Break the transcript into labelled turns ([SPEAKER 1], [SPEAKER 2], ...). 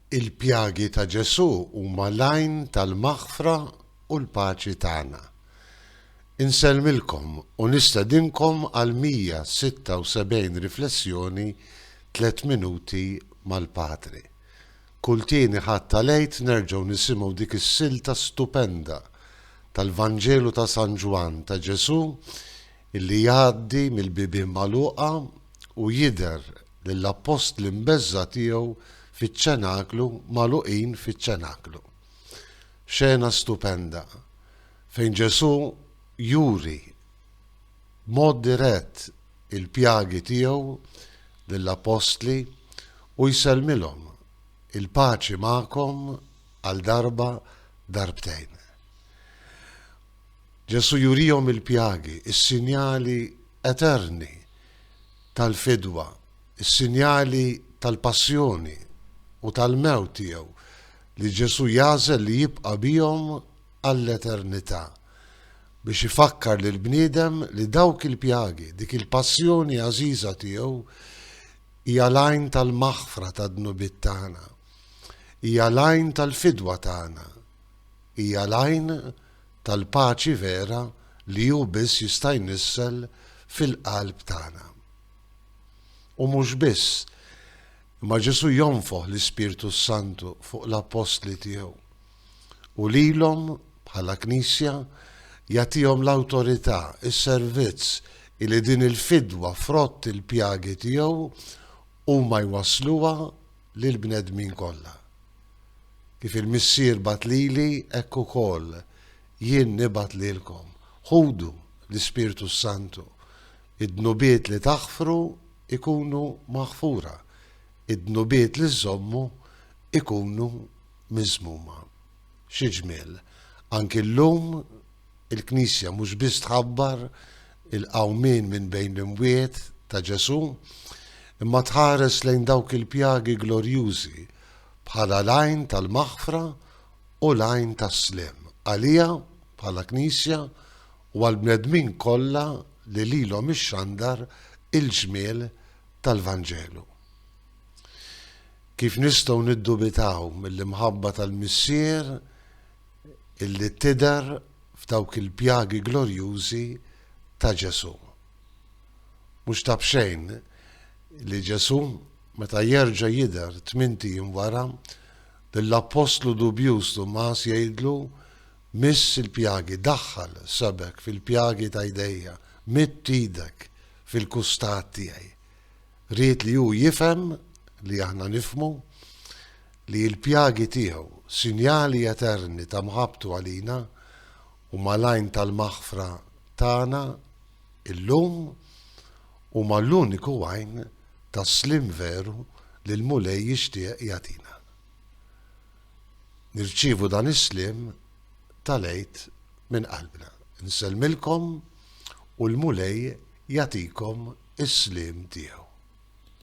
[SPEAKER 1] Il-pjagi ta' Ġesù huma l-għajn tal-maħfra u l-paċi tagħna. Insellmilkom u nistedinkom għal 176 riflessjoni Tliet Minuti mal-Patri. Kull tieni Ħadd tal-Għid nerġgħu nisimgħu dik is-silta stupenda tal-Vanġelu ta' San Ġwann ta' Ġesù li jgħaddi mill-bibien magħluqa u jidher lill-appostli mbeżżgħa tiegħu fiċ-ċenaklu magħluqin fiċ-ċenaklu. Xena stupenda fejn Ġesù juri b'mod dirett il-pjagi tiegħu lill-appostli u jsellmilhom il-paċi magħkom għal darba darbtejn. Ġesù jurihom il-pjagi, is-sinjali eterni tal-fidwa, is-sinjali tal-passjoni u tal-mewt tiegħu, li Ġesù jagħżel li jibqa' bihom għall-eternità, biex ifakkar lill-bniedem li dawk il-pjagi, dik il-passjoni għażiża tiegħu, hija l-għajn tal-maħfra tad-dnubiet tagħna, hija l-għajn tal-fidwa tagħna. Hija l-għajn tal-paċi vera li hu biss jista' jnissel fil-qalb tagħna. U mhux biss, imma Ġesù jonfoħ l-Ispirtu s-Santu fuq l-appostli tiegħu u lilhom bħala Knisja jagħtihom l-awtorità, is-servizz li din il-fidwa frott il-pjagi tiegħu huma jwassluha lill-bnedmin kollha. Kif il-Missier bagħat lili, hekk ukoll jien nibgħat lilkom. Ħudu l-Ispirtu s-Santu. Id-dnubiet li taħfru jkunu maħfura, id-dnubiet li żżommu jkunu miżmuma. Xi ġmiel, anki llum il-Knisja mhux biss tħabbar il-qawmien minn bejn l-imwiet ta' Ġesù, imma tħares lejn dawk il-pjagi glorjużi bħala l-għajn tal-maħfra u l-għajn tas-sliem għaliha bħala Knisja u għall-bnedmin kollha li lilhom ixxandar il-ġmiel tal-Vanġelu. Kif nistgħu niddubitaw mill-imħabba tal-Missier illi tidher f'dawk il-pjagi glorjużi ta' Ġesù? Mhux ta' b'xejn li Ġesù, meta jerġa' jidher tmint ijiem wara, lill-appostlu dubjuż Tumas jgħidlu, Miss il-pjagi, daħħal sebgħek fil-pjagi ta' jdejja, midd idek fil-kustat tiegħi. Ried li hu jifhem li aħna nifhmu li l-pjagi tiegħu, sinjali eterni ta' mħabbtu għalina, huma l-għajn tal-maħfra tagħna llum, huma l-uniku għajn tas-sliem veru li l-Mulej jixtieq jagħtina. Nirċievu dan is-sliem tal-Għid minn qalbna. Insellmilkom. u l-Mulej jagħtikom is-sliem tiegħu.